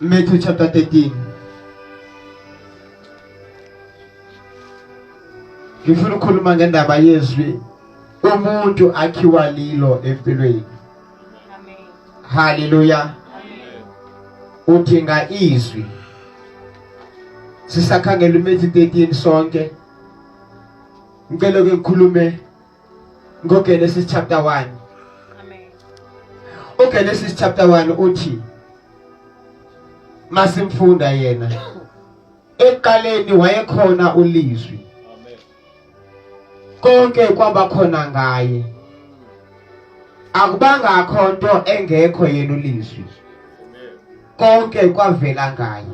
Matthew chapter 13. Ngifuna ukukhuluma ngendaba yezwi umuntu akhiwa lilo empilweni. Haleluya. Udinga izwi. Sisakhangela uMatthew 13 sonke. ngicela ke ngikhulume ngoGenesis chapter 1 amen uGenesis chapter 1 uthi masimfunda yena eqaleni wayekhona ulizwi amen konke kwaba khona ngaye akubanga akho nto engekho yena ulizwi konke kwavela ngaye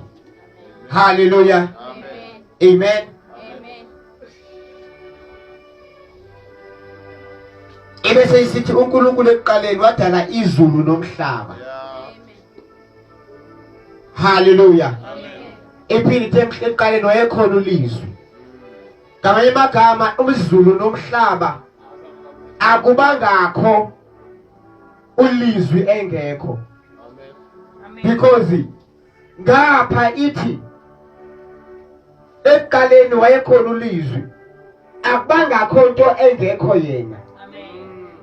haleluya amen amen ebese isithi uNkulunkulu ekuqaleni wadala izulu nomhlaba haleluya ephini ekuqaleni wayekhona ulizwi ngamanye amagama umzulu nomhlaba akubangakho ulizwi engekho because ngapha ithi ekuqaleni wayekhona ulizwi akubangakho nto engekho yena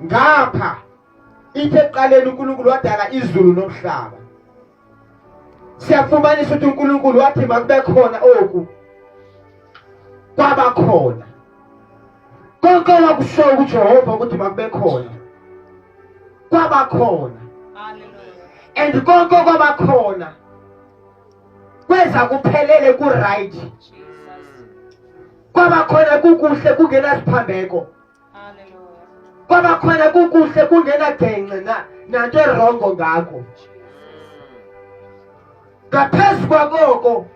ngapha ithe ekuqaleni uNkulunkulu wadala izulu nomhlaba siyafumanisa ukuthi uNkulunkulu wathi makube khona oku kwaba khona konke wakushoyo kujehova ukuthi makube khona kwaba khona and konke kwaba khona kweza kuphelele ku-right kwaba khona kukuhle kungenasiphambeko kwaba khona kukuhle kungenagengce na nanto erongo ngakho ngaphezu kwakoko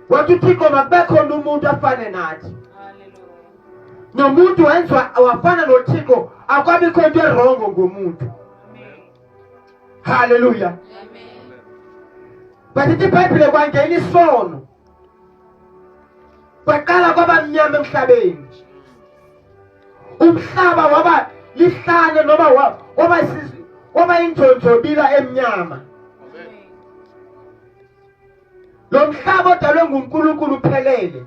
wathi uthixo makube khona umuntu afane nathi nomuntu wenziwa wafana nothixo akwabikho into erongo ngomuntu haleluya basithi ibhayibhile kwangena isono kwaqala kwaba mnyama emhlabeni nje umhlaba waba lihlane noma waba waba injonjobila emnyama lo mhlaba odalwe nguNkulunkulu uphelele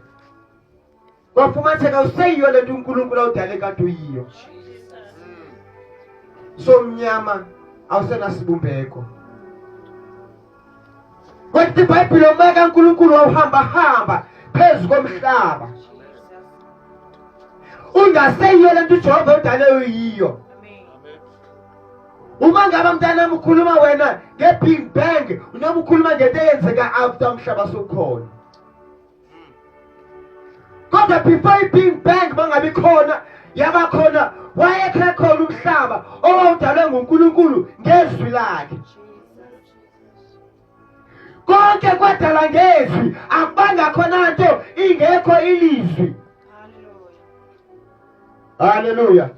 kwafumatheka useyiyo le nto unkulunkulu awudale kade uyiyo somnyama awusenasibumbeko kodwa ibhayibhile uma kankulunkulu wawuhambahamba phezu komhlaba ungaseyiyo le nto ujehova udale uyiyo uma ngabe mntanami ukhuluma wena nge-big bang unoma ukhuluma ngento eyenzeka after umhlaba sokhona kodwa before i-bing bang bangabi khona yaba khona wayekhe khona umhlaba owawudalwe ngunkulunkulu ngezwi lakhe konke kwadala ngezwi akubanga khona nto ingekho ilizwi haleluya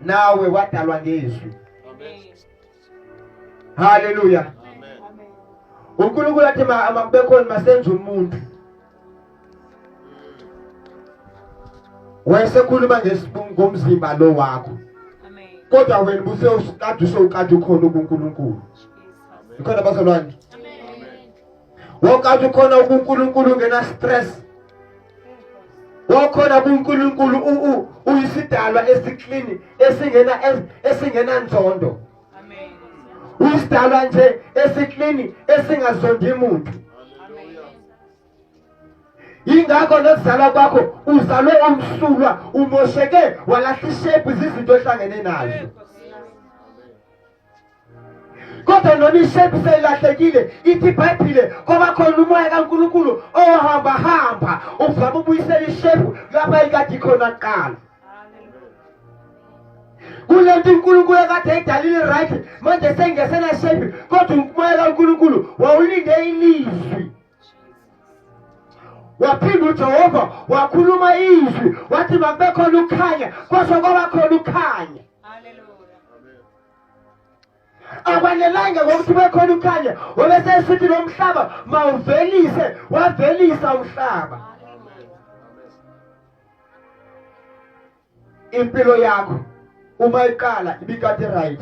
nawe wadalwa ngezwi haleluya uNkulunkulu athi makube khona masenza umuntu wayesekhuluma ngomzimba lo wakho kodwa wena busewukade usewukade ukhona kuNkulunkulu ikhona bazalwane wokade ukhona kuNkulunkulu ngena stress wakhona kuNkulunkulu uyisidalwa esiklin esingena esingena nzondo amen uyisidalwa nje esiklin esingazondi muntu ingakho nokuzalwa kwakho uzalwe umsulwa umosheke walahla ishepu izinto ohlangene nazo kodwa noma ishepu seyilahlekile ithi ibhayibhile kwaba khona umoya kankulunkulu ohamba hamba uvama ubuyisela ishepu lapha ikade ikhona kuqala kule nto unkulunkulu ekade eyidalile right manje sengesena shepu kodwa umoya kankulunkulu wawulinde ilizwi waphinda ujehova wakhuluma izwi wathi makubekhona ukukhanya kwasho kwabakhona ukukhanya akwanelanga ngokuthi bekhona ukhanya wabesesithi lo mhlaba mawuvelise wavelisa umhlaba impilo yakho uma iqala ibikade right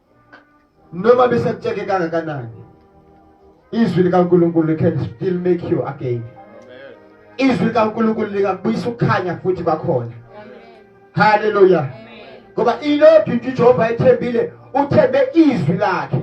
noma besekutsheke kangakanani izwi likaNkulunkulu can still make you again izwi likaNkulunkulu likabuyisa ukukhanya futhi bakhona haleluya ngoba ilodwa into uJehova ethembile uthembe izwi lakhe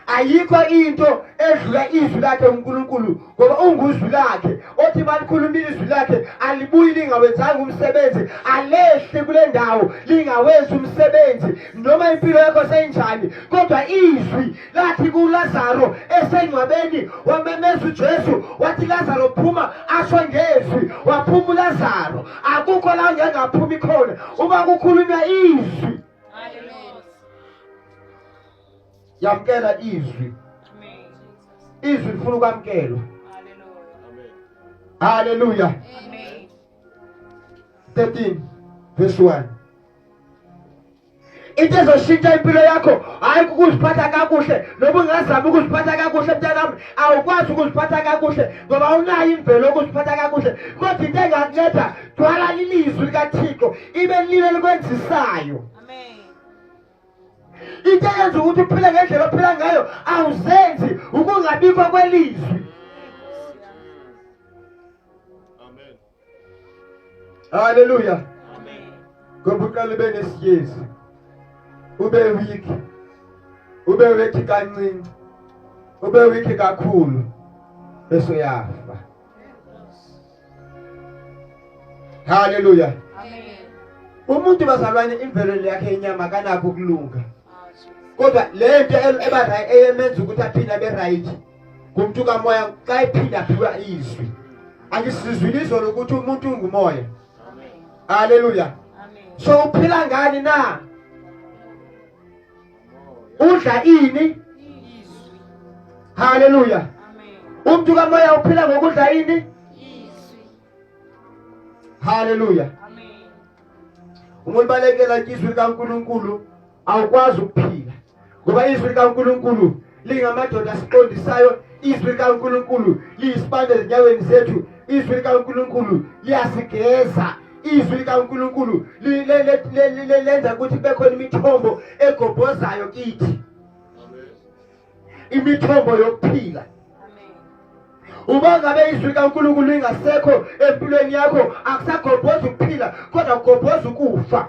ayikho into edlula izwi lakhe uNkulunkulu ngoba unguzwi lakhe othi balikhulumile izwi lakhe alibuyi lingawenzanga umsebenzi alehle kule ndawo lingawenzi umsebenzi noma impilo yakho seyinjani kodwa izwi lathi kuLazaro esengcwabeni wamemeza uJesu wathi Lazaro phuma asho ngezwi waphuma uLazaro akukho la ngengaphumi khona uma kukhulunywa izwi yamkela izwi izwi lifuna ukwamkelwa haleluya 13 verse 1 into ezoshintsha impilo yakho hayi ukuziphatha kakuhle noba ungazami ukuziphatha kakuhle mntanami awukwazi ukuziphatha kakuhle ngoba unayo imvelo okuziphatha kakuhle kodwa into engakunceda thwala lilizwi likathixo ibe lile likwenzisayo into eyenza ukuthi uphile ngendlela ophila ngayo awuzenzi ukungabikho kwelizwi haleluya ngoba uqala ube nesiyezi ube weak ube weak kancinci ube weak kakhulu bese uyafa haleluya umuntu bazalwane imvelo yakhe inyama kanakho ukulunga kodwa le nto eba eyemenza ukuthi aphinde abe right kumntu kamoya xa ephinde aphiwa izwi angisizwile izwi lokuthi umuntu ungumoya haleluya so uphila ngani na udla ini haleluya umuntu kamoya uphila ngokudla ini haleluya uma ubalekela izwi likaNkuluNkulu awukwazi ukuphila ngoba izwi likaNkuluNkulu lingamadoda asiqondisayo izwi likaNkulunkulu liyisibane ezinyaweni zethu izwi likaNkulunkulu liyasigeza izwi likaNkulunkulu lenza ukuthi bekhona imithombo egobhozayo kithi imithombo yokuphila uba ngabe izwi likaNkulunkulu lingasekho empilweni yakho akusagobhozi ukuphila kodwa kugobhoza ukufa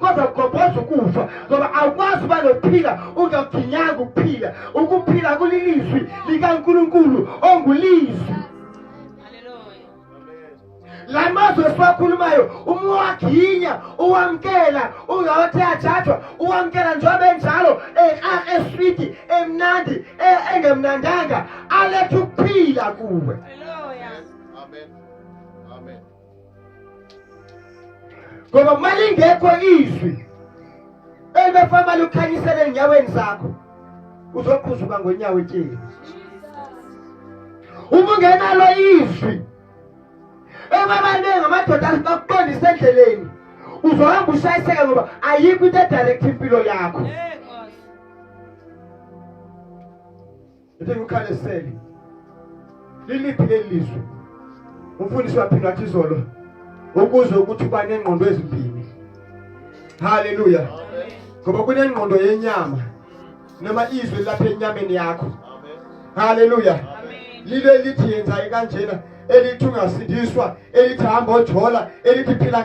kodwa kugobhoza ukufa ngoba awukwazi uba nokuphila ungakuginyanga ukuphila ukuphila kulilizwi likankulunkulu ongulizwi la mazwi esiwakhulumayo uma uwaginya uwamkela ungawathi ajajwa uwamkela njengoba enjalo eswidi emnandi e, engemnandanga aletha ukuphila kuwe Amen. ngoba uma lingekho izwi elibefama lukhanyisele enyaweni zakho uzokhuzuka ngonyawo etyeni uma ungenalo izwi ebabaningi amadoda bakubonisa endleleni uzohamba ushayiseka ngoba ayikho into edirect impilo yakho yeah. Ngithi ngikhale seli. Liliphi leli lizwe? Umfundisi waphinde wathi izolo ukuze ukuthi uba nengqondo ezimbini. Haleluya. Ngoba kunengqondo yenyama noma izwe lapha enyameni yakho. Haleluya. Lile lithi yenza kanjena elithi ungasindiswa elithi hamba ojola elithi phila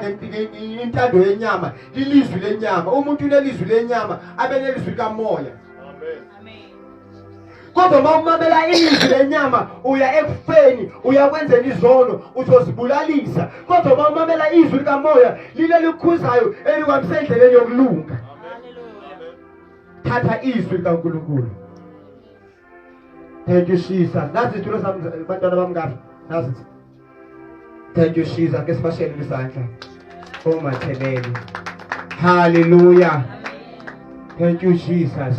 ngentando yenyama lilizwi lenyama umuntu unelizwi lenyama abenelizwi kamoya kodwa uma umamela izwi lenyama uya ekufeni uyakwenzela izono uzozibulalisa kodwa uma umamela izwi likamoya lile likhuzayo elikwamisa endleleni yokulunga thatha izwi likankulunkulu thank you jesus nazi izitulo sami bantwana bami kahle nazi Thank you Shiza ke sibashele isandla. Oh Mathelele. Hallelujah. Thank you Jesus.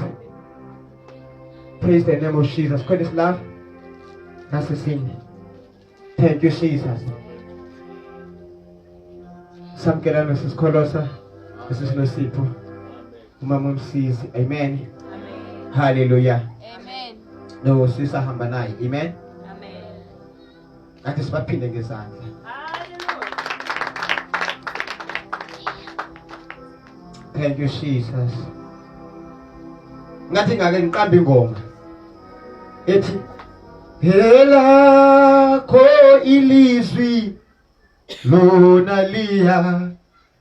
Praise the name of Jesus. Quit this love. That's the thing. Thank you Jesus. Samkela Mrs. Kolosa, Mrs. Nosipo. Umama msizi. Amen. Amen. Hallelujah. Amen. No sisa hamba naye. Amen. kanti sibaphinde ngezandla thank you jesus ngathi ngake ngiqambe ingoma ethi helakho ilizwi lona liya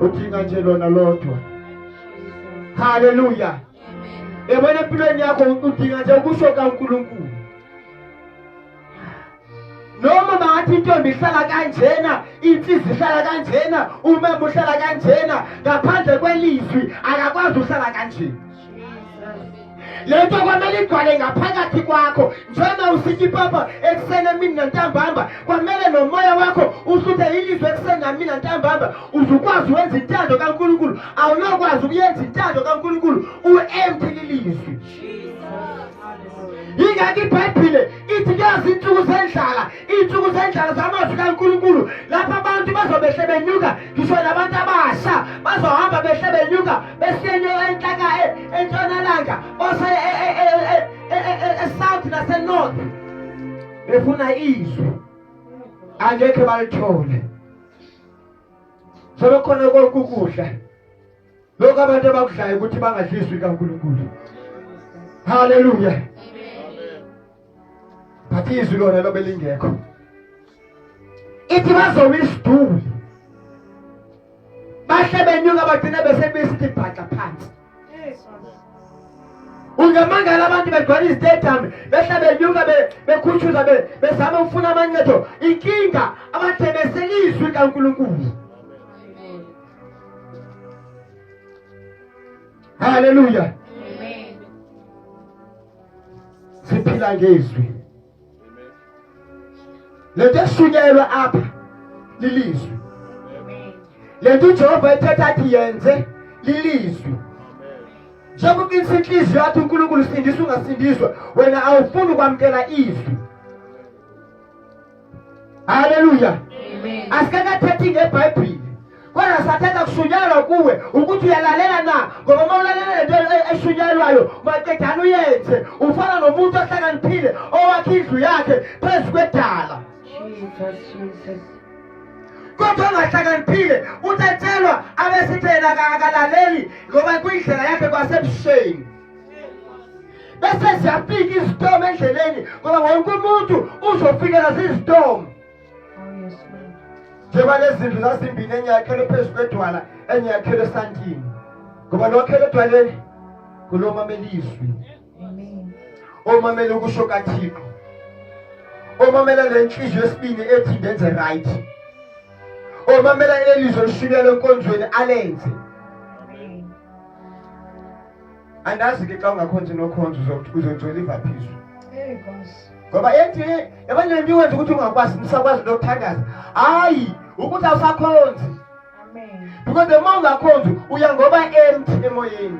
udinga nje lona lodwa haleluya yabona empilweni yakho udinga nje ukusho kaNkulunkulu noma bangathi intombi ihlala kanjena insizwa ihlala kanjena umama uhlala kanjena ngaphandle kwelizwi akakwazi uhlala kanjena le nto kwamele igcwale ngaphakathi kwakho njengoba usithi papa ekuseni emini nantambamba kwamele nomoya wakho usuthe ilizwe ekuseni namini nantambamba uzukwazi uwenza intando kankulunkulu awunokwazi ukuyenza intando kankulunkulu u-empty lilizwi yingakho ibhayibhile ithi kuyazi insuku zendlala iy'nsuku zendlala zamazwi kaNkulunkulu lapho abantu bazobehle benyuka ngisho nabantu abasha bazohamba behle benyuka besiyenyuka enhlaka entshonalanga bose esouth nasenorth befuna izwi angekhe balithole sebekhona konke ukudla lokho abantu abakudlayo ukuthi bangadliswi kaNkulunkulu haleluya but izwi lona lobe lingekho ithi bazoma isiduli bahle benyuka bagcine besebesithi bhaxa phansi ungamangala abantu begcwala izitedami behle benyuka bekhutshuza bezama ukufuna amancedo inkinga abathemeseli izwi kankulunkulu haleluya siphila ngezwi lento eshunyelwa apha lilizwi lento uJehova ethetha athi yenze lilizwi njengoba uqinisa inhliziyo yathi uNkulunkulu sindisa ungasindiswa wena awufuni ukwamukela izwi haleluya asikakathethi ngebhayibhile kodwa sathetha kushunyayelwa kuwe ukuthi uyalalela na ngoba uma ulalela lento eshunyayelwayo maqedana uyenze ufana nomuntu ohlakaniphile owakhe indlu yakhe phezu kwedala kodwa ongahlakaniphile uthi atshelwa abesithi yena akalaleli ngoba kuyindlela yakhe kwasebusheni bese ziyafika izitomu endleleni ngoba wonke umuntu uzofikela zizitomu njengoba lezi zindlu zazimbini enye yakhelwe phezu kwedwala enye yakhelwe esantini ngoba lokhele edwaleni kulomamela izwi omamela ukusho kathixo omamela le nhliziyo esibini ethi ndenze right omamela leli zwi olishunyelwe enkonzweni alenze andazi ke xa ungakhonzi nokhonzi uzongcwela ivaphiso ngoba ethi yabanye le nto iwenza ukuthi ungakwazi nisakwazi into yokuthandaza hayi ukuthi awusakhonzi because the more ungakhonzi uya ngoba emthi emoyeni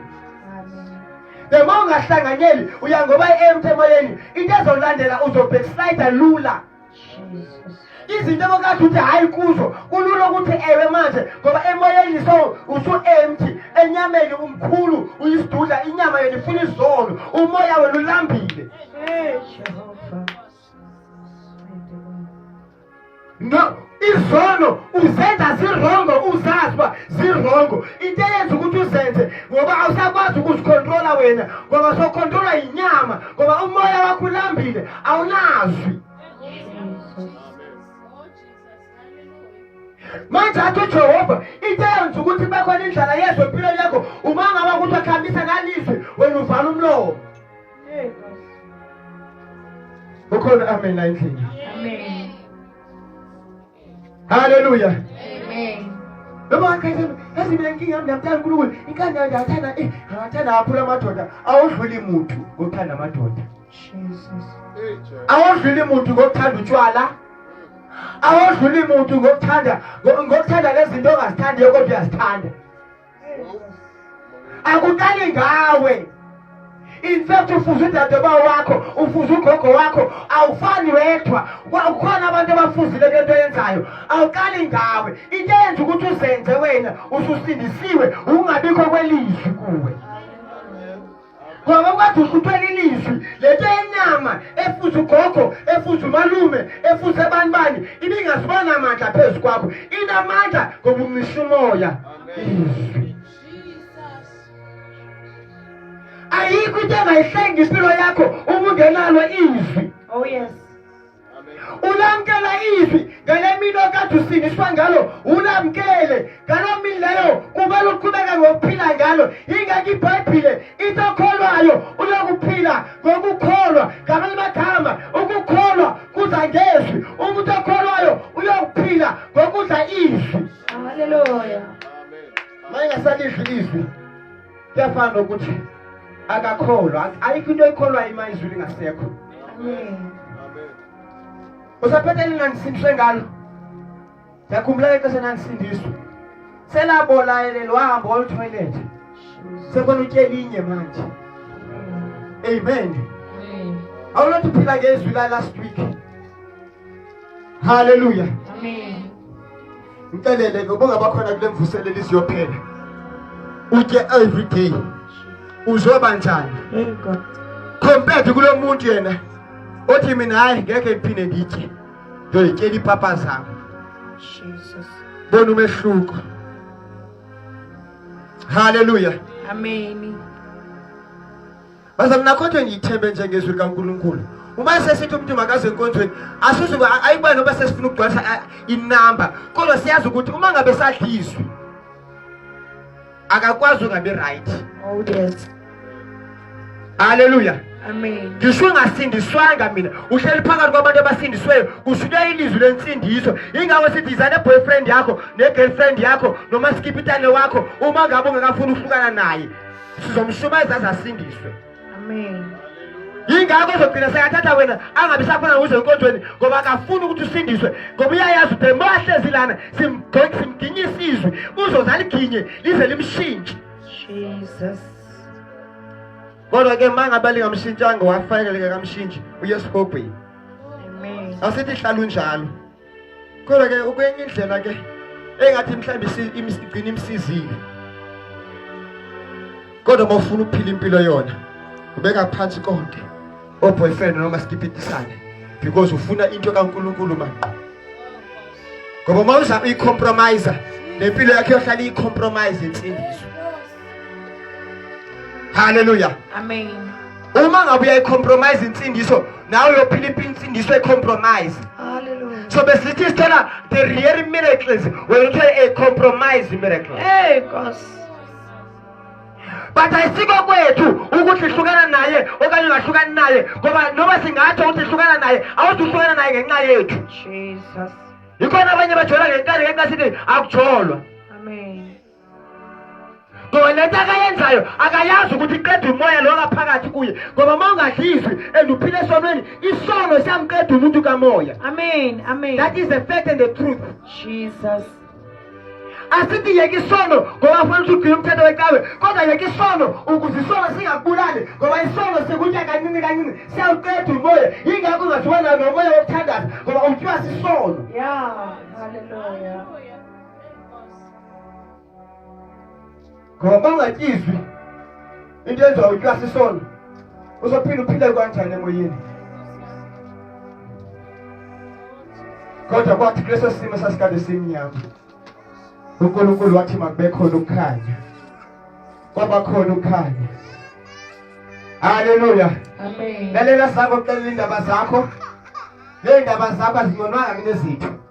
the more ungahlanganyeli uya ngoba emthi emoyeni into ezolandela uzobhekislayida lula izinto abokade uthi hhayi kuzo kulula ukuthi ewe manje ngoba emoyeni so usu-empty enyameni umkhulu uyisidudla inyama yona ifuna izolo umoya wena ulambile no izono uzenza zirongo uzazi uba zirongo into eyenza ukuthi uzenze ngoba awusakwazi ukuzikhontrola wena ngoba sokhontrola yinyama ngoba umoya wakho ulambile awulazi manje athi ujehova into eyenza ukuthi bekhona indlala yezwe empilweni yakho uma ngaba ukuthi wakhambisa nalizwi wena uvala umlomo ukhona amen la endlini Hallelujah. Amen. Noma akhethe yazi mina inkinga yami ngiyamthanda uNkulunkulu inkani yami ngiyathanda eh ngiyathanda kakhulu amadoda awodluli muntu ngokuthanda amadoda Jesus awodluli muntu ngokuthanda utshwala awodluli muntu ngokuthanda ngokuthanda lezinto ongazithandiyo kodwa uyazithanda akuqali ngawe infact ufuze udadebao wakho ufuze ugogo wakho awufani wedwa kukhona abantu abafuzile kule nto yenzayo awuqali ngawe into eyenza ukuthi uzenze wena ususindisiwe ungabikho kwelizwi kuwe ngoba kwathi usuthwele ilizwi lento yenyama efuze ugogo efuze umalume efuze abantu bani ibingazibona amandla phezu kwakho inamandla ngoba umisa umoya izwi ayikho into engayihlanga impilo yakho uma ungenalo izwi oh yes ulamkela izwi ngale mini okade usindiswa ngalo ulamkele ngalo mini leyo kumele uqhubeke ngokuphila ngalo ingakho ibhayibhile into okholwayo uyokuphila ngokukholwa ngamanye amakhama ukukholwa kuza ngezwi umuntu okholwayo uyokuphila ngokudla izwi haleluya mayengasalidli izwi kuyafana nokuthi akakholwa ayikho into ekholwayo ima izwi lingasekho usaphethe elinganisindiswe ngalo ndiyakhumbula ixesha endandisindiswa selabolayelelo wahamba oluthoyilethe sekhona utyelinye manje amen awulothi phila ngezwi la last week haleluya amen Ngicelele ngoba ngabakhona kule mvuselelo isiyophela. Uthe every day uzoba njani? Compared kulo muntu yena othi mina hayi ngeke ngiphinde ngithe. Ngiyoyitshela ipapa zami. Jesus. Bona umehluko. Hallelujah. Amen. Bazalwane nakhothwe ngiyithembe nje ngezwi likaNkulunkulu. Uma sesithi umuntu makaze enkonzweni asizuke ayibani noba sesifuna ukugcwalisa inamba kodwa siyazi ukuthi uma ngabe sadlizwe akakwazi ungabe right. Oh yes. Hallelujah. Amen. Ngisho ungasindiswanga mina uhleli phakathi kwabantu abasindisweyo kushunywa ilizwi lensindiso ingakho sithi izane boyfriend yakho ne girlfriend yakho noma skipitane wakho uma ngabe ungakafuni uhlukana naye sizomshumayeza aze asindiswe amen yingakho uzogcina sekathatha wena angabi sakhona uze enkonzweni ngoba akafuni ukuthi usindiswe ngoba uyayazi ukuthi uma ahlezi lana simginye isizwe uzoze aliginye lize limshintshe jesus kodwa ke uma ngabe lingamshintshanga wafaneleke kamshintshi uye esihogweni asithi hlala unjalo kodwa ke ukwenye indlela ke engathi mhlawumbe igcina imsizile kodwa uma ufuna ukuphila impilo yona ubeka phansi konke oboyfriend noma sikipitisane because ufuna into kaNkulunkulu manje ngoba uma uza uyicompromise nempilo yakhe yohlala iyicompromise insindiso haleluya amen uma ngabe uyayicompromise insindiso nawe uyophila impilo insindiso ecompromise so besithi sithela the real miracles when you tell a compromise miracle hey nkosi but ayisiko kwethu ukuthi hlukana naye okanye ungahlukani naye ngoba noma singatsho ukuthi hlukana naye awuthi uhlukana naye ngenxa yethu jesus yikhona abanye bajolwa ngenkani ngenxa sithi akujolwa ngoba lento akayenzayo akayazi ukuthi iqeda umoya lo ngaphakathi kuye ngoba uma ungadli izwi and uphile esonweni isono siyamqeda umuntu kamoya amen amen that is the fact and the truth jesus asithi yeke isono ngoba afuna ukuthi ugcine umthetho wecawe kodwa yeke isono ukuze isono singakubulali ngoba isono sikunye kancini kancini siyawuqeda umoya yingakho ungathiwa nayo nomoya wokuthandaza ngoba umthiwa sisono ya haleluya ngoba bangatyizwi into enziwa utyasi isono uzophinde uphile kanjani emoyeni kodwa kwathi kuleso simo sasikade simnyama unkulunkulu wathi makubekhona ukukhanya kwabakhona ukukhanya haleluya lalela sako kuxelela iindaba zakho leendaba zakho azingonwanga kunezitho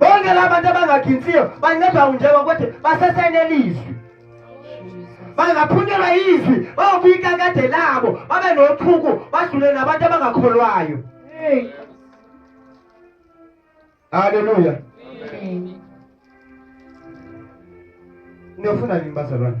bonke la bantu abangaginthiyo bancedwa unjeko ukuthi basesenelizwi bangaphunyelwa izwi bayobika kade labo babe nothuku badlule nabantu abangakholwayo haleluya niyofuna nini bazalwane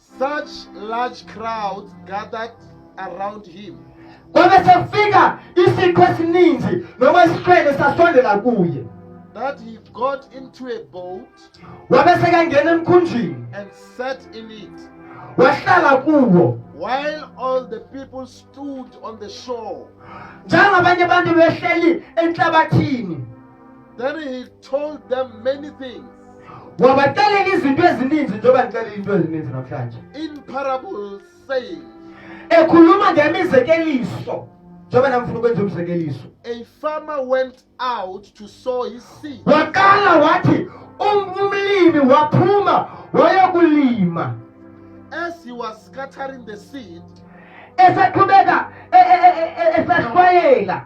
Such large crowds gathered around him. Kwabe sekufika isiqhu esininzi noma isihlwele sasondela kuye. That he got into a boat. Wabe sekangena emkhunjini. And sat in it. Wahlala kuwo. While all the people stood on the shore. Njengabanye abantu behleli enhlabathini. Then he told them many things. wabaxelela izinto ezininzi njengoba ndixelela into ezininzi namhlanje in parables saying ekhuluma ngemizekeliso njengoba namfuna ukwenza umzekeliso a farmer went out to sow his seed waqala wathi um-, umlimi waphuma wayokulima as he was scattering the seed eseqhubeka e-, e-, e-, esahlwayela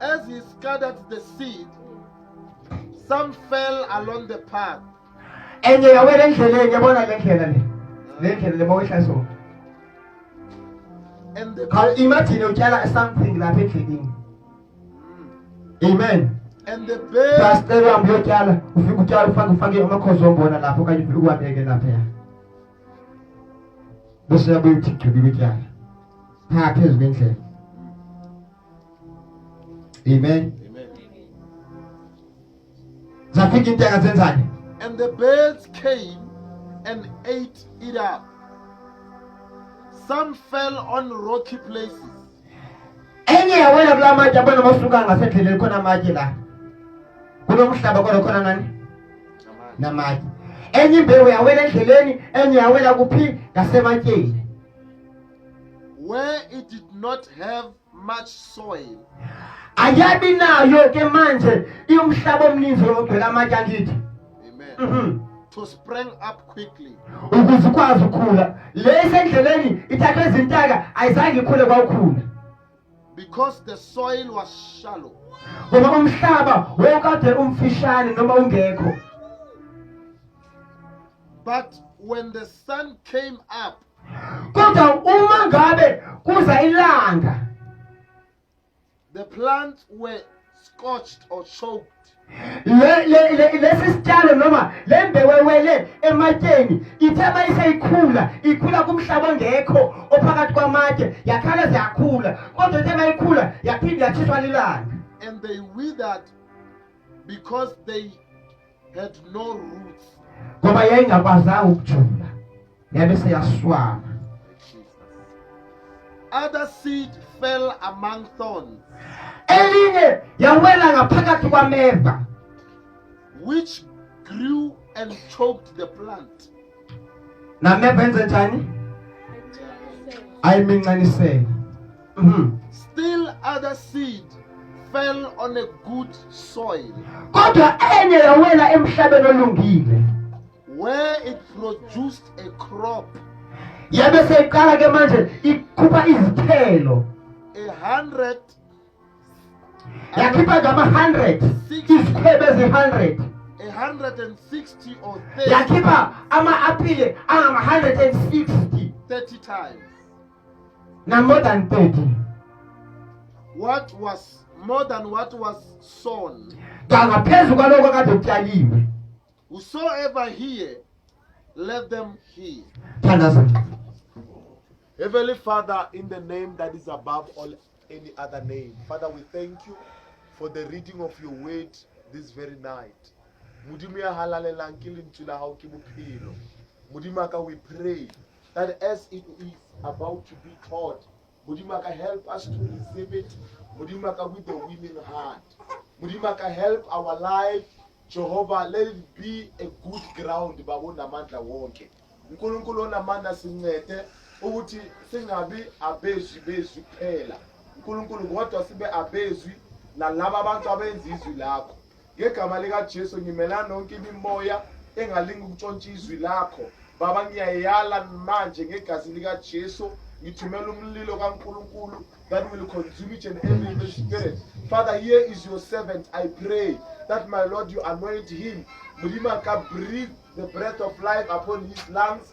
As he scattered the seed, some fell along the path. Enye yawela endleleni yabona le ndlela le. Le ndlela le mawehlasona. And the Cha imagine utyala something lapha endleleni. Amen. and the bird Pastor wami uyotyala ufike utyala ufake ufake amakhozo ombona lapho okanye ufike uwabeke lapha ya. Bese yabuya uthi gqibile utyala. Pha phezu kwendlela. Amen. Amen. Zafika inteka zenzani? And the birds came and ate it up. Some fell on rocky places. Enye yawela kula matshe abona masuka ngasendleleni khona amatshe la. Kulomhlaba kodwa khona nani? Namatshe. Enye imbewu yawela endleleni, enye yawela kuphi? Ngasematsheni. where it did not have much soil ayabi nayo ke manje iumhlaba omninzi wokugcwela amatshe angithi amen mm -hmm. to spring up quickly ukuze ukwazi ukukhula lesendleleni ithathwe izintaka ayizange ikhule kwawukhula because the soil was shallow ngoba umhlaba wokade umfishane noma ungekho but when the sun came up kodwa uma ngabe kuza ilanga the plants were scorched or choked lesi sitshalo noma le mbewewele ematsheni ithe uma iseyikhula ikhula kumhlaba ongekho ophakathi kwamatshe yakhala ziyakhula kodwa ithe uma ikhula yaphinde yathiswa lilanga and they withered because they had no roots ngoba yayingakwazanga ukujula yabe seyaswana other seed fell among thorns elinye yawela ngaphakathi kwameva which grew and choked the plant nameva enze njani ayimincanisela Mhm. Still other seed fell on a good soil kodwa enye yawela emhlabeni olungile where it produced a crop yabe seyiqala ke manje ikhupha izithelo a hundred yakhipha ngama-hundred izikhwebe ezi-hundred a hundred and sixty or yakhipha ama-apile angama-hundred and sixty thirty times na more than 30 what was more than what was sown kangaphezu kwaloko kade kutyaliwe whosoever hear let them hear thandaza heavenly father in the name that is above all any other name father we thank you for the reading of your word this very night modimo ya halalelang ke lentswe la gago ke bophelo modimo a ka we pray that as it is about to be taught modimo ka help us to receive it modimo ka with the winning heart modimo ka help our life jehovah let it be a good ground babo namandla wonke unkulunkulu onamandla sincede ukuthi singabi abezwi bezwi kuphela unkulunkulu kodwa sibe abezwi nalaba abantu abenza izwi lakho ngegama likaJesu ngimelana nonke imimoya engalinga ukutshontsha izwi lakho baba ngiyayala manje ngegazi likaJesu ngithumela umlilo kaNkulunkulu that will consume each and every evil spirit father here is your servant i pray that my lord you anoint him mlima ka breathe the breath of life upon his lungs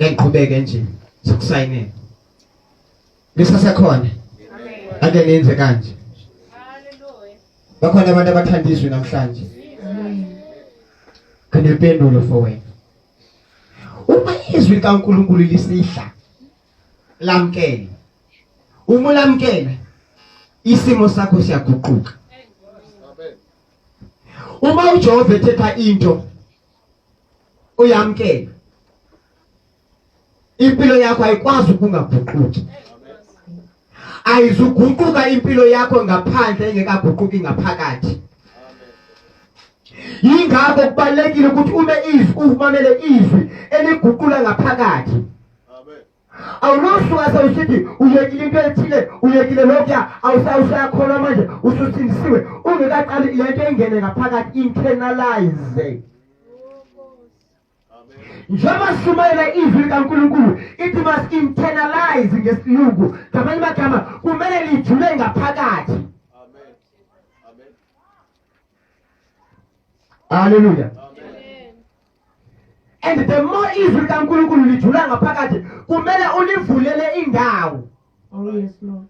ngiqhubeke nje sokusayinela lisasekhona ake nenze kanje bakhona abantu abathanda izwi namhlanje khona impendulo for wena uma izwi likaNkulunkulu lisidla lamkele uma ulamkela isimo sakho siyaguquka uma uJehova ethetha into uyamkela impilo yakho ayikwazi ukungaguquki ayizuguquka impilo yakho ngaphandle engekaguquki ngaphakathi yingakho kubalekile ukuthi ube izwi umamele izwi eliguqula ngaphakathi awulusho wase usithi uyekile into ethile uyekile lokuya awusayakholwa manje ususindisiwe ungekaqali le nto engene ngaphakathi internalize njengoba sishumayela izwi likankulunkulu ithi mas-internalize ngesilungu ngamanye amagama kumele lijule ngaphakathi haleluya and the more izwi likaNkulunkulu lijula ngaphakathi kumele ulivulele indawo oh yes lord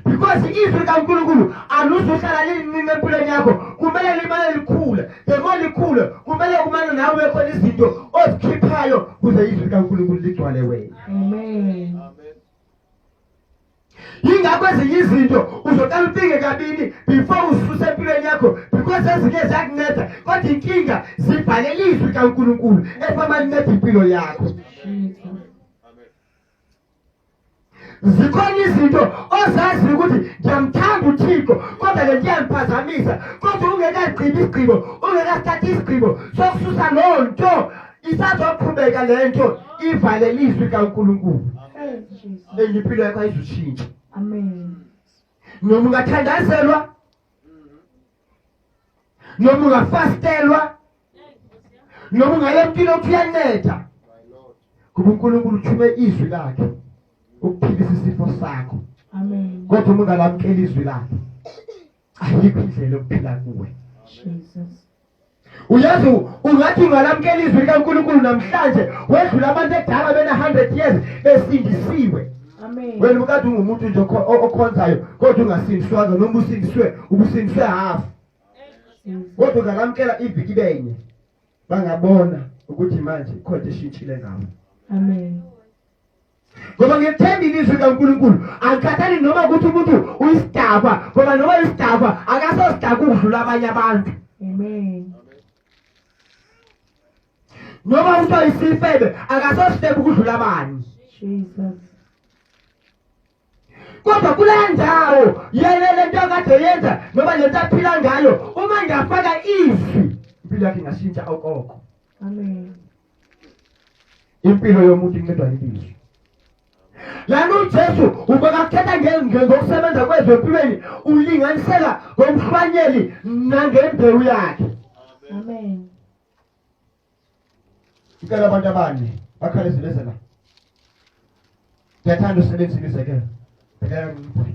because izwi likaNkulunkulu aluzuhlala liningi empilweni yakho kumele limane likhule the more likhule kumele kumane nawe ube khona izinto ozikhiphayo kuze izwi likaNkulunkulu ligcwale wena amen yingakho ezinye izinto uzoqala ucinge kabini before ususe empilweni yakho because ezinye ziyakunceda kodwa inkinga zibhalele izwi kankulunkulu efama linceda impilo yakho zikhona izinto ozazi ukuthi ngiyamthanda uthixo kodwa le ndiyangiphazamisa kodwa ungekagqibi isigqibo ungekasithathi isigqibo sokususa loo nto isazoqhubeka le nto ivale lizwi kaNkulunkulu engiphilo yakho ayizushintsha amen noma ungathandazelwa noma ungafastelwa noma ungaya empilo kuyanetha kuba uNkulunkulu uthume izwi lakhe ukuphilisa isifo sakho amen kodwa uma ungalamkela izwi lakhe ayikho indlela yokuphila kuwe uyazi ungathi ungalamukela izwi likankulunkulu namhlanje wedlula abantu ekudala bena-hundred years besindisiwe wena ukade ungumuntu nje okhonzayo kodwa ungasindiswanga noma usindiswe ubusindiswe hafu kodwa ungalamukela iviki benye bangabona ukuthi manje ikhonto eshintshile ngawo amen ngoba ngethemba ilizwi kaNkulunkulu angikhathali noma ukuthi umuntu uyisidakwa ngoba noma uyisidakwa akasosidakwa ukudlula abanye abantu amen noma umuntu oyisifebe akasosidebe ukudlula abanye jesus kodwa kule ndawo yena le nto akade yenza noma le nto aphila ngayo uma ngiyafaka izwi impilo yakhe ingashintsha okoko amen impilo yomuntu incedwa impilo lana ujesu ubekakuthetha ngokusebenza kwezwe empilweni ulinganisela ngomhlwanyeli nangembewu yakhe amen ngicela abantu abanye bakhale zileze la ngiyathanda usebenzile izekelo bhekela ngibhule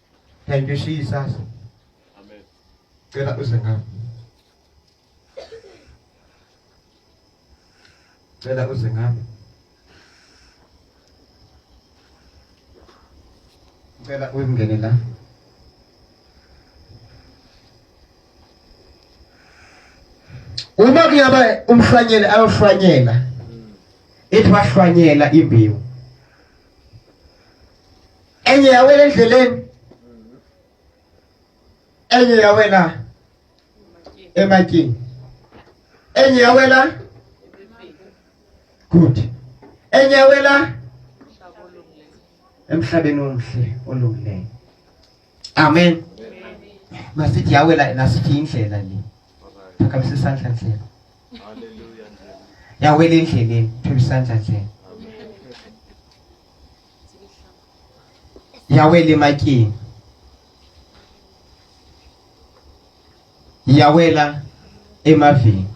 Thank you Jesus. Amen. Cela uze ngami. Cela uze ngami. Cela uyingene la. Uma kuyaba umhlanyeli ayohlwanyela. Ethi wahlwanyela imbewu. enye yawela endleleni enye yawela emakini enye yawela good enye yawela emhlabeni omhle olungileyo amen masithi yawela nasithi indlela le phakamisa isandla ndlela yawela endleleni phakamisa isandla ndlela yawela emakini yawela emavini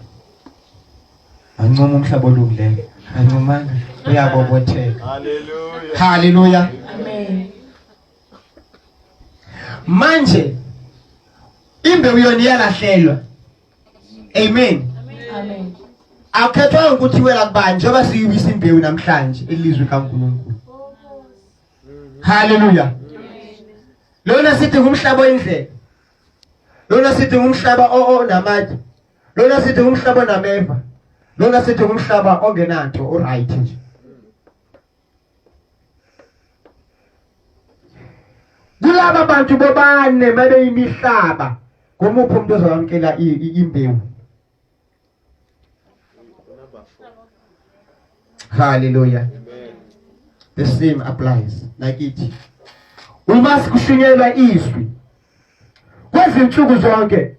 ancoma umhlaba olungileyo ancomanga uyabobotheka haleluya haleluya amen manje imbewu yona iyalahlelwa amen amen akukhethwanga ukuthi wela kubani njengoba siyibisa imbewu namhlanje elizwe kaNkulunkulu haleluya lona sithi ngumhlaba oyindlela lona sithi ngumhlaba onamathi lona sithi ngumhlaba onameva lona sithi ngumhlaba ongenanto uright nje kulaba bantu bobane babeyimihlaba ngomuphi umuntu ozowamkela imbewu haleluya the same applies nakithi uma sikushunyelwa izwi kwezinsuku zonke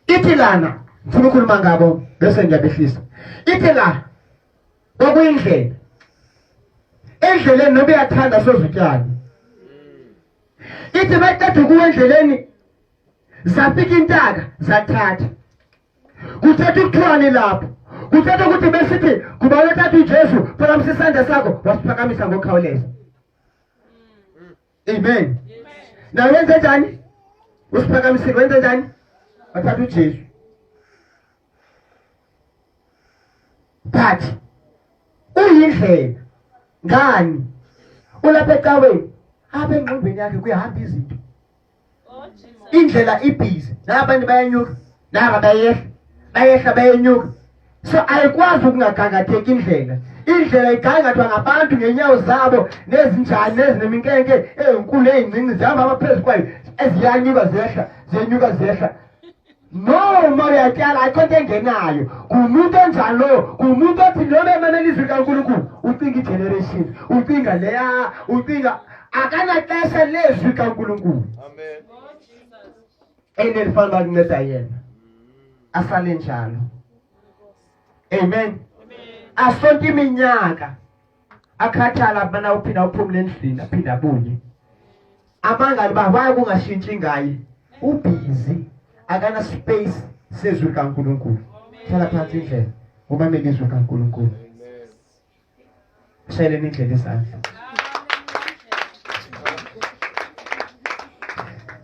ithi lana ngifuna ukukhuluma ngabo bese ngiyabehlisa ithi la okuyindlela endleleni noba uyathanda sozutyala ithi baqeda ukuwa endleleni zafika intaka zathatha kuthetha ukuthiwani lapho kuthetha ukuthi besithi kuba wethatha ujesu phakamisa isandla sakho wasiphakamisa ngokukhawuleza amen nawe wenze njani usiphakamisile wenze njani wathatha ujesu but uyindlela ngani ulapha ecaweni apha engqondweni yakhe kuyahamba izinto indlela ibhizi nabanye bayenyuka naba bayehla bayehla bayenyuka so ayikwazi ukungagangatheki indlela indlela igangathwa ngabantu ngenyawo zabo nezinjani nezineminkenke ezinkulu ezincinci zihamba amaphezu kwayo eziyanyuka zehla zenyuka zehla no uma uyatyala ayikho nto engenayo ngumuntu onjani lowo ngumuntu othi noma emamela izwi likankulunkulu ucinga igeneration ucinga leya ucinga akanaxesha lezwi kankulunkulu and elifana uba kunceda yena asale njalo amen asonke iminyaka akhathala abana uphina uphumule endlini aphinde abuye amangani ba why kungashintshi ngaye ubhizi akana space sezwi likaNkulunkulu hlala phansi indlela umamele izwi likaNkulunkulu shayeleni indlela isandla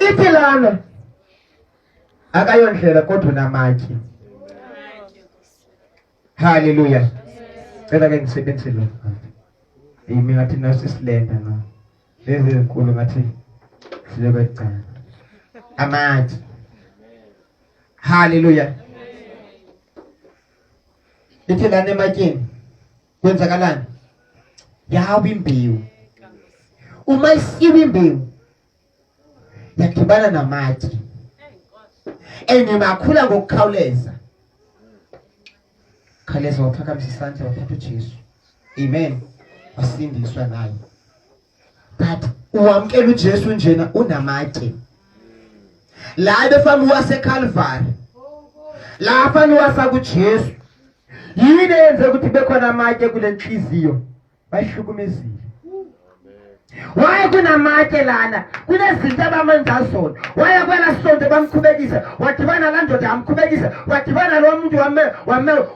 ithi lana akayondlela kodwa unamatye Hallelujah. Cela ke ngisebenzise lo. Yimi ngathi nasi silenda na. Lezi zinkulu ngathi silebe cala. Amathi. Hallelujah. Lithi lana ematyeni kwenzakalani? Yawa imbewu. Uma isiwe imbewu yadibana namatshe and makhula ngokukhawuleza khawuleza waphakamisa isandla wathatha ujesu amen wasindiswa naye but uwamkela ujesu njena unamatshe la ebefamba uwasekhalvari la afane uwafaka ujesu yini eyenze ukuthi bekhona amatshe kule nhliziyo bayihlukumezile waye kunamatshe lana kunezinto abamenza zona waye kwela sonto bamkhubekisa wadibana la ndoda yamkhubekisa wadibana lo muntu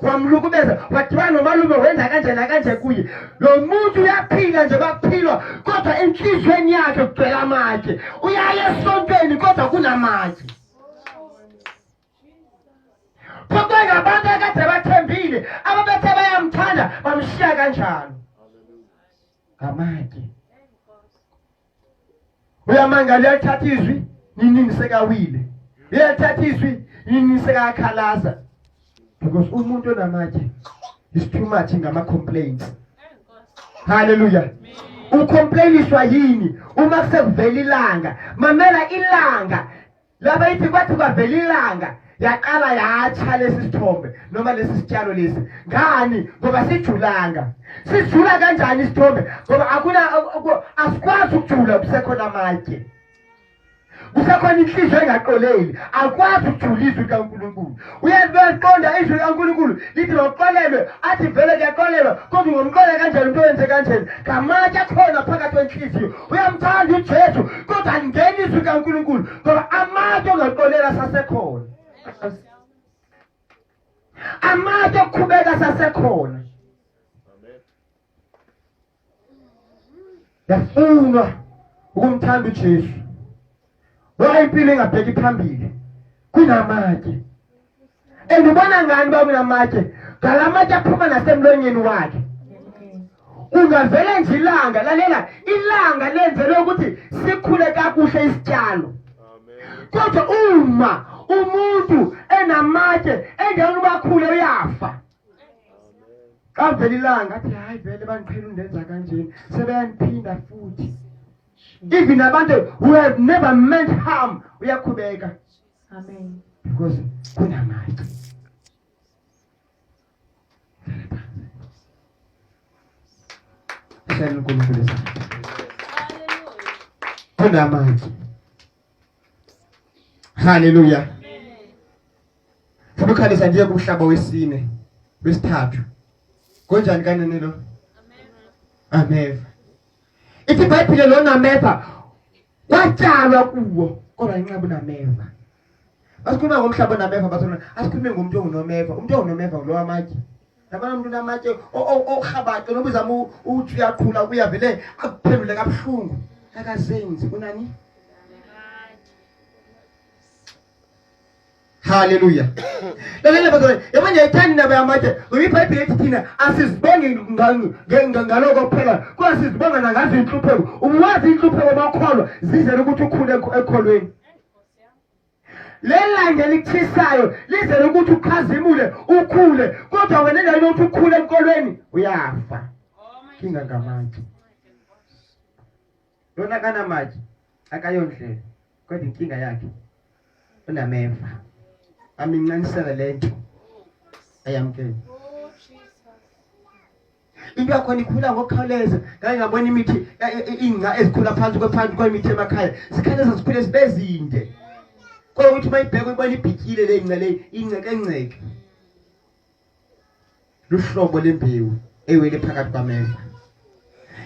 wamlukubeza wadibana nomalume wenza kanje nakanje kuye lo muntu uyaphila nje baphilwa kodwa enhliziyweni yakhe kugcwela amatshe uyaye esontweni kodwa kunamatshe Phoqwe ngabantu akade bathembile ababethe bayamthanda bamshiya kanjalo. Ngamake. Uyamangala uyathatha izwi ninini sekawile. Uyathatha izwi ninini sekakhalaza. Because umuntu onamatshe is too much ngama complaints. Hallelujah. Ucomplainiswa yini uma kusevela ilanga? Mamela ilanga Laba ithi kwathi kwavela ilanga yaqala yatsha lesi sithombe noma lesi sitshalo lesi ngani ngoba sijulanga sijula kanjani isithombe ngoba akuna asikwazi ukujula kusekhona amatshe kusekhona inhliziyo engaqoleli akwazi ukujula izwi likaNkulunkulu uyazi bayaqonda izwi likankulunkulu lithi mawuxolelwe athi vele kuyaxolelwa kodwa ungomxolela kanjani umntu owenze kanjani ngamatshe akhona phakathi kwenhliziyo uyamthanda ujesu kodwa alingeni izwi likankulunkulu ngoba amatshe ongaxolela sasekhona amatshe okukhubeka sasekhona yafunwa ukumthanda uJesu ngoba impilo ingabheki phambili kunamatshe and ubona ngani uba kunamatshe ngala matshe aphuma nasemlonyeni wakhe ungavele nje ilanga lalela ilanga lenzelwe ukuthi sikhule kakuhle isityalo kodwa uma umuntu enamatshe engeke ubakhule uyafa kavela ilanga athi hayi vele bangiqhela undenza kanjeni sebeyaniphinda futhi even abantu who have never meant harm uyakhubeka amen because kunamandla Siyabonga uNkulunkulu. Kunamandla. Haleluya. Funa ukhalisa ndiye kumhlaba wesine wesithathu. Konjani kanene lo? Ameva. Ithi iBhayibhile lona ameva kwatshalwa kuwo kodwa inqabu nameva. Asikhuluma ngomhlaba nameva bathona asikhulume ngomuntu ongunomeva. Umuntu ongunomeva lo wamatye. yabona umuntu unamatshe orhabaxe noba uzama ukuthi uyaqhula kuya vele akuphendule kabuhlungu akazenzi kunani haleluya lalela bazalwane yabona yayithanda indaba yamatshe ngoba ibhayibhile ethi thina asizibongi ngaloko kuphela kodwa sizibonga nangazo inhlupheko uwazi inhlupheko bakholwa zizela ukuthi ukhule ekholweni lelanga elikuthisayo lizele ukuthi ukhazimule ukhule kodwa wena endaweni yokuthi ukhule enkolweni uyafa kinga ngamatshe lona kanamatshe akayondlela kodwa inkinga yakhe unameva amincanisele le nto ayamkele into yakhona ikhula ngokukhawuleza ngake ngabona imithi e, e, e, ingca ezikhula phansi kwephansi kwemithi emakhaya zikhaleza zikhule zibe zinde kodwa ukuthi uma ibhekwe ibona ibhikile le nca le incekenceke luhlobo lembewu ewele phakathi kwameva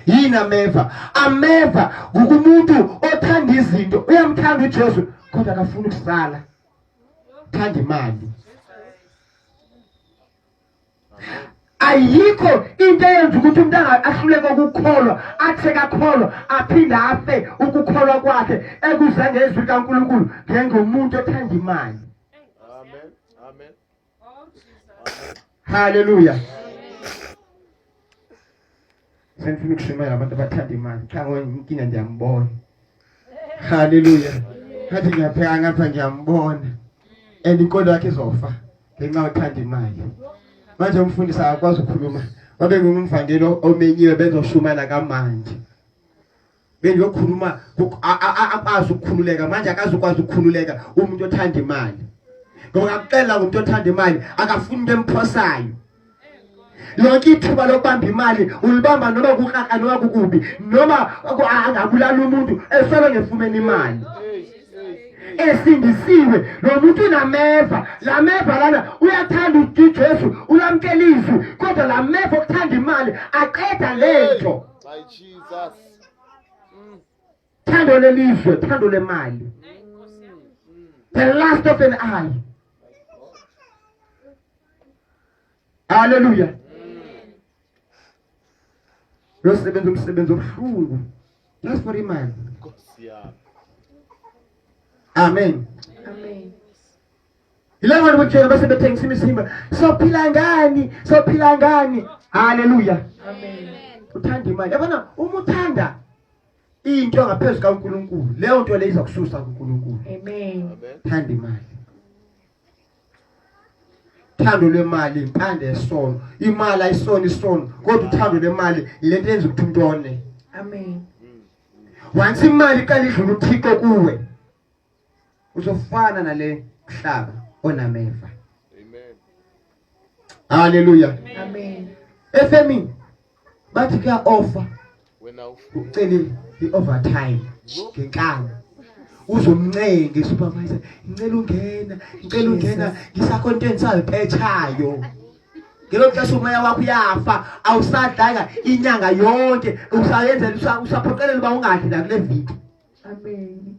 yini ameva ameva ngukumuntu othanda izinto uyamthanda uJesu kodwa akafuni ukusala thanda imali ayikho into eyenza ukuthi umuntu ahluleke ukukholwa athe kakholwa aphinde afe ukukholwa kwakhe ekuze ngezwi likaNkulunkulu njengomuntu othanda imali amen amen haleluya Sengifuna ukushimela abantu abathanda imali. Cha ngoyinkinga ngiyambona. Haleluya. Ngathi ngiyapheka ngapha ngiyambona. And inkolo yakhe izofa ngenxa yokuthanda imali. Manje umfundisi akakwazi ukukhuluma. Wabe ngumvangelo omenyiwe bezoshumana kamanje. bengiyokhuluma akwazi ukukhululeka manje akazukwazi ukukhululeka umuntu othanda imali ngoba ngakuxelela ngomuntu othanda imali akafuni into emphosayo lonke ithuba lokubamba imali ulibamba noma kukraka noma kukubi noma angabulala umuntu esolo ngefumeni imali esindisiwe lo muntu unameva la meva lana uyathanda ujesu ulamkela izwi kodwa la meva okuthanda imali aqeda le nto My Jesus. Mm. Thando lelizwe, thando lemali. The last of an eye. Hallelujah. Lo sebenza umsebenzi obuhlungu. Just for imali. Nkosi yami. Amen. Amen. Yilabo bantu bokutshela base bethengisa imizimba. Sophila ngani? Sophila ngani? Haleluya. Amen. Uthanda imali. Yabona uma uthanda into ngaphezulu kaNkuluNkulu, leyo nto leyo iza kususa kuNkuluNkulu. Amen. Thanda imali. Thando lwemali impande yesono. Imali ayisona isono, kodwa uthando lwemali lento yenza ukuthi umuntu one. Amen. Once imali iqala idlula uThixo kuwe. uzofana nale kuhlaba onameva amen haleluya amen efemini bathi kuya offer wena ucele i-overtime ngenkani uzomncenge supervisor ngicela ungena ngicela ungena ngisacontent salipetshayo ngelo xesha umoya wakho uyafa awusadlanga inyanga yonke usayenzela usaphoqelela uba ungadli nakule video amen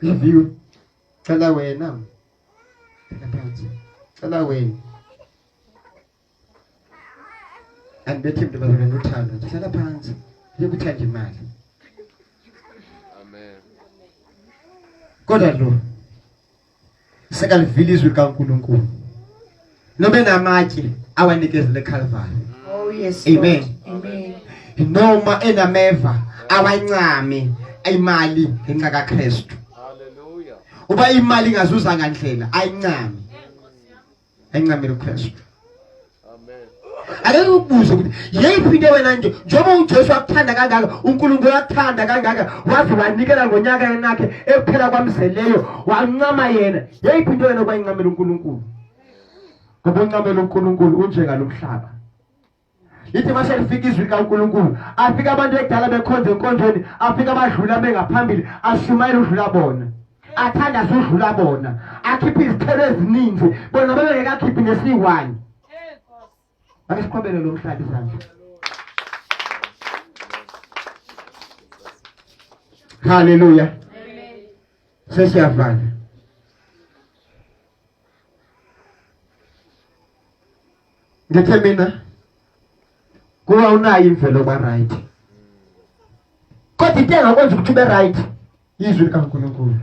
Review. Cela wena. Cela phansi. Cela wena. Andibethi mntu bazana nothando. Cela phansi. Yokuthanda imali. Amen. Kodwa lo sekalivile izwi likaNkulunkulu noma enamatye awanikezele eKalvari oh yes amen amen noma enameva awancame imali ngenxa kaKristu haleluya uba imali ingazuzanga ndlela ayincame ayincamile uKristu akeke ukubuze ukuthi yeyiphi into wena nje njengoba ujesu wakuthanda kangaka unkulunkulu wakuthanda kangaka waze wanikela ngonyaka yenakhe ekuphela kwamzeleyo wancama yena yeyiphi into wena okwayincamela unkulunkulu ngoba uncamela unkulunkulu unjengalo mhlaba lithi mashe lifika izwi likaNkulunkulu afika abantu ekudala bekhonza enkonzweni afika abadlula bengaphambili ashumayela udlula bona athanda sudlula bona akhiphe izithelo eziningi bona bebengekakhiphi nesiyi-one ake siqhobele lo mhlaba izandla haleluya sesiyavala ngithe mina kuba unayo imvelo ba right kodwa into engakwenza ukuthi ube right yizwi likaNkulunkulu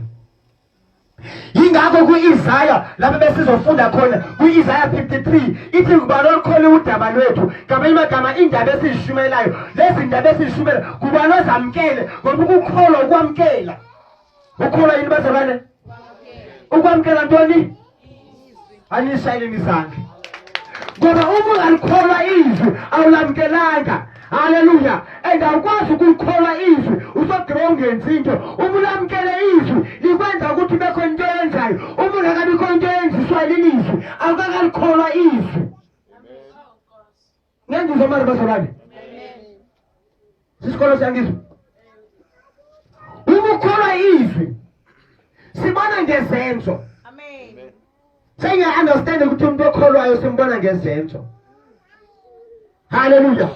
yingakho kwi-isaya lapho besizofunda khona kwi-isaya 53 ithi ngubani olukhole udaba lwethu ngamanye amagama indaba esizishumayelayo lezi ndaba esizishumayela ngubani ozamkele ngoba ukukholwa ukwamkela ukhula yini bazalwane ukwamkela ntoni anishayeleni izandla ngoba uma ungalikholwa izwi awulamkelanga haleluya and awukwazi ukulikholwa izwi usogqiba ungenzi into uma ulamkele izwi likwenza ukuthi bekho into eyenzayo uma ungakabikho into eyenziswa leli izwi awukakalikholwa izwi Niyangizwa manje bazalwane? Sisikolo siyangizwa. Uma ukholwa izwi sibona ngezenzo. Amen. Sengiya understand ukuthi umuntu okholwayo simbona ngezenzo. Hallelujah.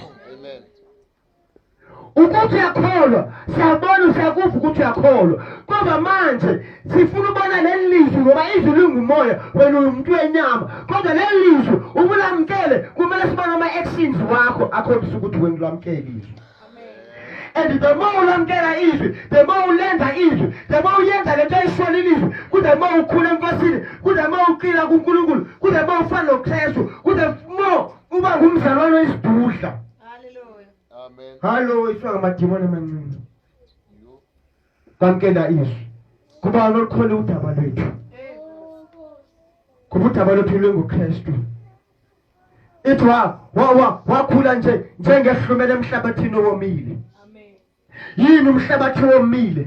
ukuthi uyakholwa siyabona usiyakuva ukuthi uyakholwa kodwa manje sifuna ubona leli lizwi ngoba izwi lingumoya wena umuntu wenyama kodwa leli lizwi ubulamkele kumele sibone ama-actions wakho akhombisa ukuthi wena ulamkele izwi and the more ulamkela izwi the more ulenza izwi the more uyenza le nto ayishona ilizwi kude more ukhula enkosini kude more uqila kunkulunkulu kude more ufana nokrestu kude more uba ngumzalwane oyisidudla Hallelujah. Amen. Hallo, ifika ngamadimoni amancinci. Kwamkela izwi. Kuba lokhona udaba lwethu. Kuba udaba lwethu lwenguKristu. Ithi wa wa wakhula nje njengehlumela emhlabathini owomile. yini umhlabathi womile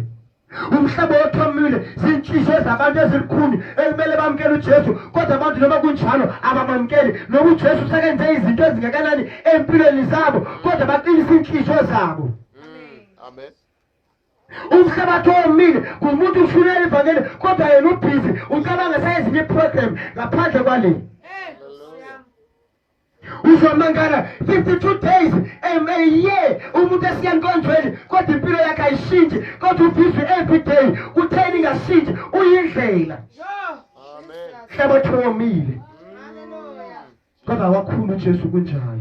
umhlaba othomile zinhliziyo zabantu ezilukhuni ekumele bamukele ujesu kodwa abantu noma kunjalo abamamukeli noma ujesu sekenze izinto ezingakanani empilweni zabo kodwa baqinisa iinhliziyo zabo amen umhlabathi owomile ngumuntu ushulele ivangeli kodwa yena ubhizi ucabanga sayezinye iprogram ngaphandle kwaleni uzomangala 52 days um, a year umuntu esiya nkonzweni kodwa impilo yakhe ayishintshi kodwa ubhizi every day kutheni ingashintshi uyindlela hlabathi womile kodwa wakhulu ujesu kunjalo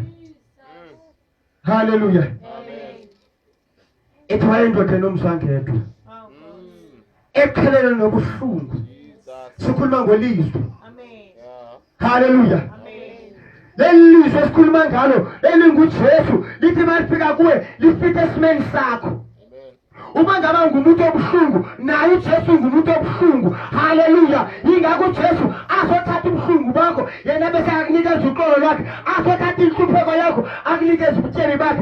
haleluya ethwala indoda enomzwangedwa ekhalele nobuhlungu sikhuluma ngolizwi haleluya leli lizwi esikhuluma ngalo elingujesu lithi uma lifika kuwe lifithe esimeni sakho uma ngaba ngumuntu obuhlungu naye ujesu ngumuntu obuhlungu haleluya yingakho ujesu azothatha ubuhlungu bakho yena bese akunikeza uxolo lwakhe azothatha inhlupheko yakho akunikeza ubutsheni bakhe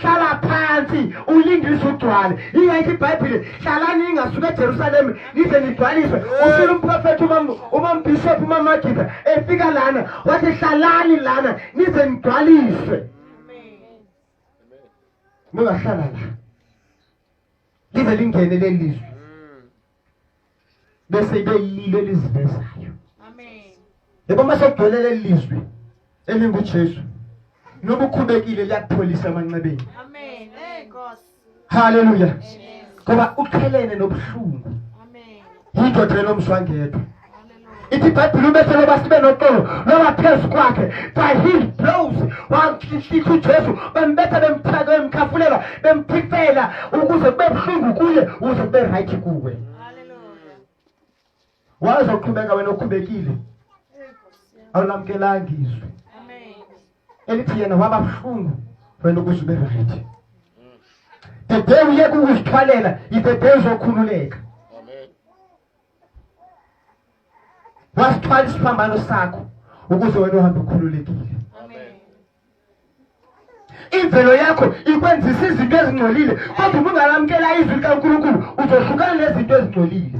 hlala phansi ulinde izwe ugcwale yingakho ibhayibhile hlalani ingasuka ejerusalema nize nigcwaliswe ufile umprofethi umambhishophu umamagida efika lana wathi hlalani lana nize nigcwaliswe ningahlala la lize lingene leli lizwe bese ibe yilo elizivezayo amen yebo mase kugcwele lelizwi elinguJesu noma ukhubekile liyakupholisa amanxebeni amen hey nkosi haleluya ngoba ukhelene nobuhlungu amen yindoda lomswangedwa ithi ibhayibhile ubethe loba sibe noxolo loba phezu kwakhe by his blows wanhlitha ujesu bembetha bemthaka bemkhafulela bemphifela ukuze kube buhlungu kuye ukuze kube right kuwe wazoqhubeka wena okhubekile awulamkelanga izwi elithi yena waba buhlungu wena ukuze ube right the day uyeke ukuzithwalela ibe day uzokhululeka wasithwala isiphambano sakho ukuze wena uhambe ukhululekile imvelo yakho ikwenzisa izinto ezingcolile kodwa uma ungalamukela izwi likankulunkulu uzohlukana nezinto ezingcolile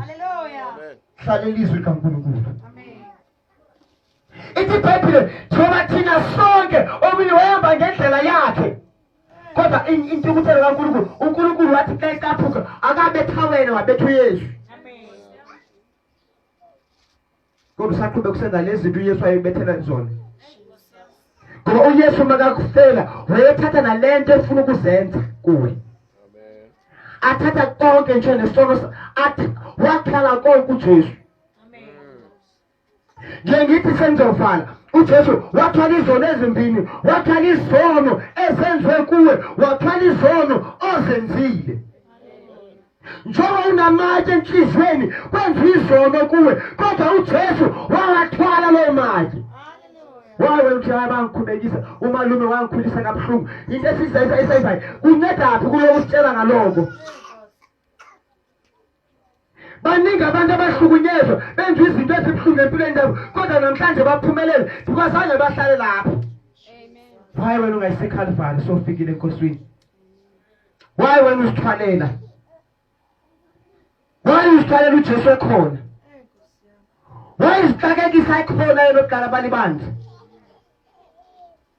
hlalela izwi likankulunkulu ithi ibhayibhile njengoba thina sonke omunye wayehamba ngendlela yakhe kodwa intukuthelo kankulunkulu unkulunkulu wathi xa ecaphuka akabetha wena wabetha uyesu kodwa usaqhube kusenza lezi zinto uyesu ayebethela zona ngoba uyesu makakufela wayethatha nale nto efuna ukuzenza kuwe athatha konke nje nesono athi wakhala konke ujesu nje ngithi sengizovala uJesu wathwala izono ezimbini wathwala izono esenziwe kuwe wathwala izono ozenzile njengoba unamatshe enhliziyweni kwenza izono kuwe kodwa uJesu wawathwala loo matshe waye wena uthi hayi bangikhubekisa umalume wangikhulisa kabuhlungu into esizayisayisayizayo kuncedaphi kulokusitshela ngaloko baningi abantu abahlukunyezwa benza izinto ezibuhlungu empilweni yabo kodwa namhlanje baphumelele kwazange bahlale lapho why wena ungayisekhalvari sofikile enkosini why wena uzithwalela why uzithwalela ujesu ekhona why izixakekisa ekhona yena okudala balibandla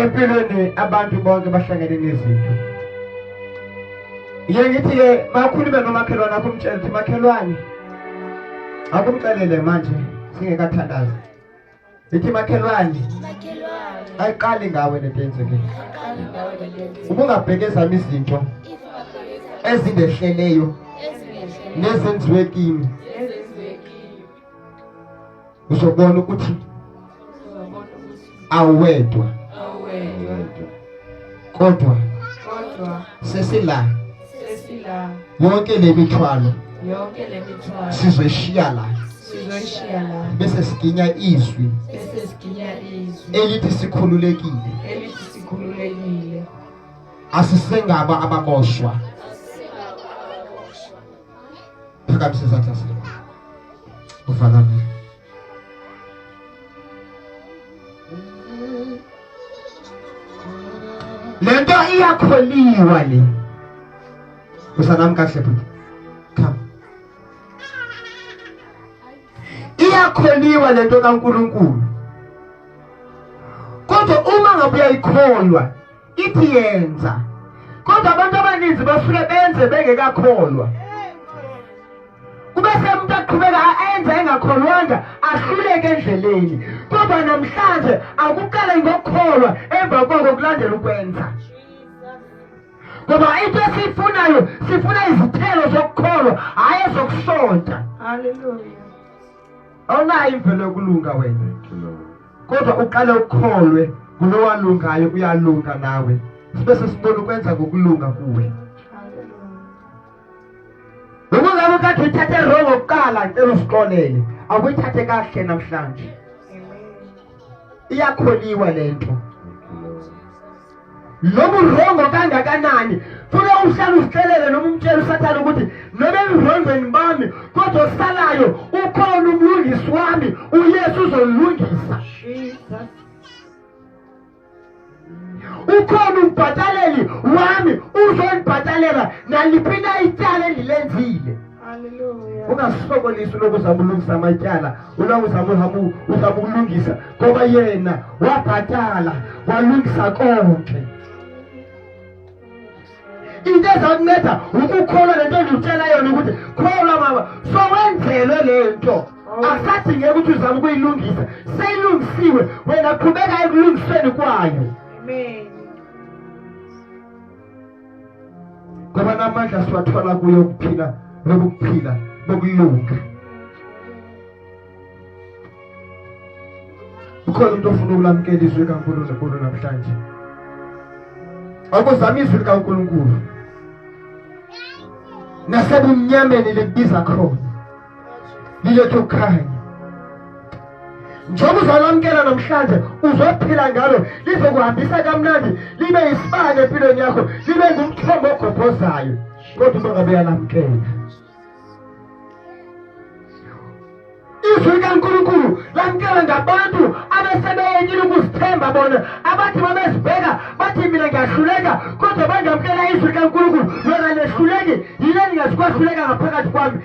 empilweni abantu bonke bahlangene nezinto ye ngithi-ke makhulume nomakhelwane akho umtshele ukuthi makhelwane akumcelele manje singekathandazi Nithi makhelwane. Makhelwane. Ayiqali ngawe lento yenzekile. Ayiqali ngawe lento yenzekile. Ubungabheke ezami izinto ezindehleleyo nezenziwe kimi. Uzobona ukuthi awedwa. Awedwa. Kodwa. Kodwa. Sesila. yonke le mithwalo sizoyishiya la bese siginya izwi elithi sikhululekile asisengaba ababoshwa phakamise izandla zethu uvalame le nto iyakholiwa le usanami kahle bhuti come iyakholiwa le nto kankulunkulu kodwa uma ngabe uyayikholwa ithi yenza kodwa abantu abaninzi basuke benze bengekakholwa kube semuntu aqhubeka ayenza engakholwanga ahluleke endleleni kodwa namhlanje akuqale ngokukholwa emva koko kulandela ukwenza ngoba into esiyifunayo sifuna izithelo zokukholwa hhayi ezokusonta haleluya awunayo imvelo yokulunga wena kodwa uqale ukukholwe kulowalungayo uyalunga nawe sibe sesibona ukwenza kokulunga kuwe noma ngabe kade uthathe wrong oqala ngicela usiqolele awuyithathe kahle namhlanje iyakholiwa lento noma urongo kangakanani funa uhlale usicelele noma umtshela usathane ukuthi noma emrongweni bami kodwa osalayo ukhona umlungisi wami uyesu uzolungisa ukhona umbhataleli wami uzolibhatalela naliphi na ityala endilenzile ungasokolisi ulokhu uzama ulungisa amatyala ulokhu uzama uhamu uzama ukulungisa ngoba yena wabhatala walungisa konke into ezakunceda ukukholwa le nto ndikutshela yona ukuthi kholwa mama sowenzelwe le nto akusadingeki ukuthi uzama ukuyilungisa seyilungisiwe wena qhubeka ekulungisweni kwayo amen ngoba namandla siwathola kuyo ukuphila nokuphila bokulunga ukhona umuntu ofuna ukulamukela izwi likaNkulunkulu namhlanje akuzama izwi likaNkulunkulu nasebumnyameni libiza khona liletha ukukhanya njengoba uzalamkela namhlanje uzophila ngalo lizokuhambisa kamnandi libe yisibane empilweni yakho libe ngumthombo ogobhozayo kodwa uma ngabe uyalamkela izwi likankulunkulu lamkela ngabantu abesebeyekile ukuzithemba bona abathi babezibheka bathi mina ngiyahluleka kodwa bangamkela izwi likankulunkulu lona lehluleki yile ndingazikwahluleka ngaphakathi kwami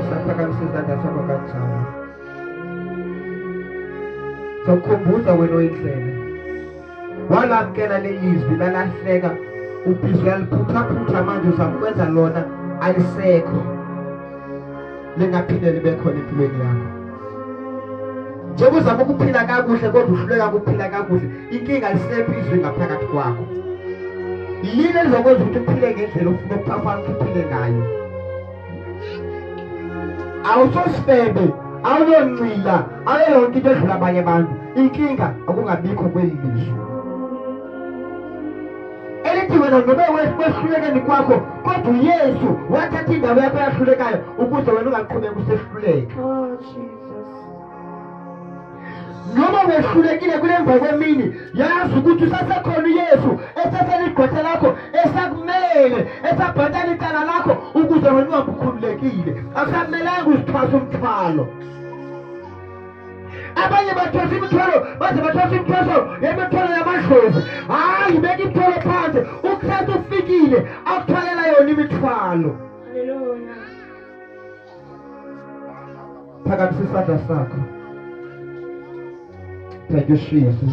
Usaphakamisa izandla sakho kanjalo. Sokukhumbuza wena oyindlela. Walamkela lelizwi lalahleka ubhizi uyaliphuthaphutha manje uzamkwenza lona alisekho. lingaphinde libe khona empilweni yakho njengoba uzama ukuphila kakuhle kodwa uhluleka ukuphila kakuhle inkinga lisekho izwi ngaphakathi kwakho yini elizokwenza ukuthi uphile ngendlela ofuna ukuphafana ukuthi uphile ngayo awusosifebe awuyoncila awuyonke into edlula abanye abantu inkinga okungabikho kweli lizwe elithi wena nobe kwehlulekeni kwakho kodwa uyesu wathatha indawo yakho eyahlulekayo ukuze wena ungaqhubeka usehluleka oh, noma wehlulekile kulemva kwemini yazi ukuthi usasekhona uyesu eseseligqwetha lakho esakumele esabhatala icala lakho ukuze wena ungabukhululekile akusamelanga uzithwasa umthwalo abanye bathwesa imithwalo baze bathwesa imithweso yemithwalo yamadlozi hhayi beka imithwalo phansi ukristu ufikile akuthwalela yona imithwalo phakamise isandla sakho thank you jesus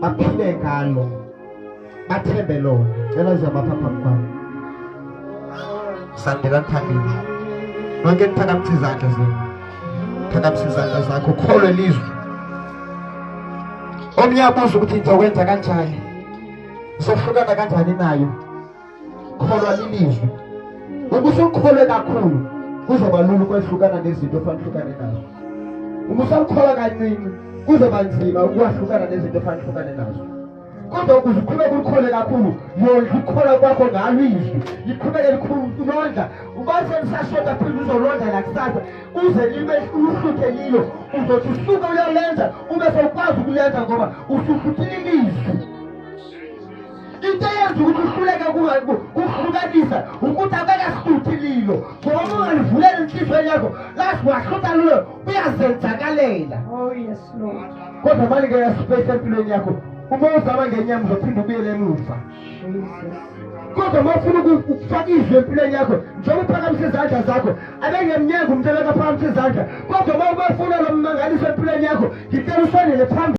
baphile ngalo bathembe lona cela uzabapha phambi kwami sandela nithandile nonke nithakamisa izandla zenu thakamisa izandla zakho ukholwe lizwe omnye abuza ukuthi ngizokwenza kanjani sohlukana kanjani nayo kholwa lilizwi uma usukholwe kakhulu kuzoba lula ukwehlukana nezinto ofanele uhlukane nazo uma usakholwa kaningi kuzoba nzima ukwahlukana nezinto ofanele uhlukane nazo kodwa ukuze uqhubeke ulikhole kakhulu yondla ukukhola kwakho ngalo izwi liqhubeke londla ubase lisashoda phinde uzolondla nakusasa uze libe uhluthe lilo uzothi usuke uyalenza ube sewukwazi ukulenza ngoba usuhluthile ilizwi into eyenza ukuthi uhluleke kuhlukanisa ukuthi abekasuthi lilo ngoba ungalivuleli inhliziyo yakho lathi wahlutha lulo uyazenzakalela oh, kodwa malike yasipesi empilweni yakho uma uzama ngenyama uzophinde ubuyele emuva kodwa uma ufuna ukufaka izwi empilweni yakho njengoba uphakamisa izandla zakho abengemnyanga umntu abekaphakamisa izandla kodwa uma ubefuna lo mmangaliso empilweni yakho ngicela ufanele phambili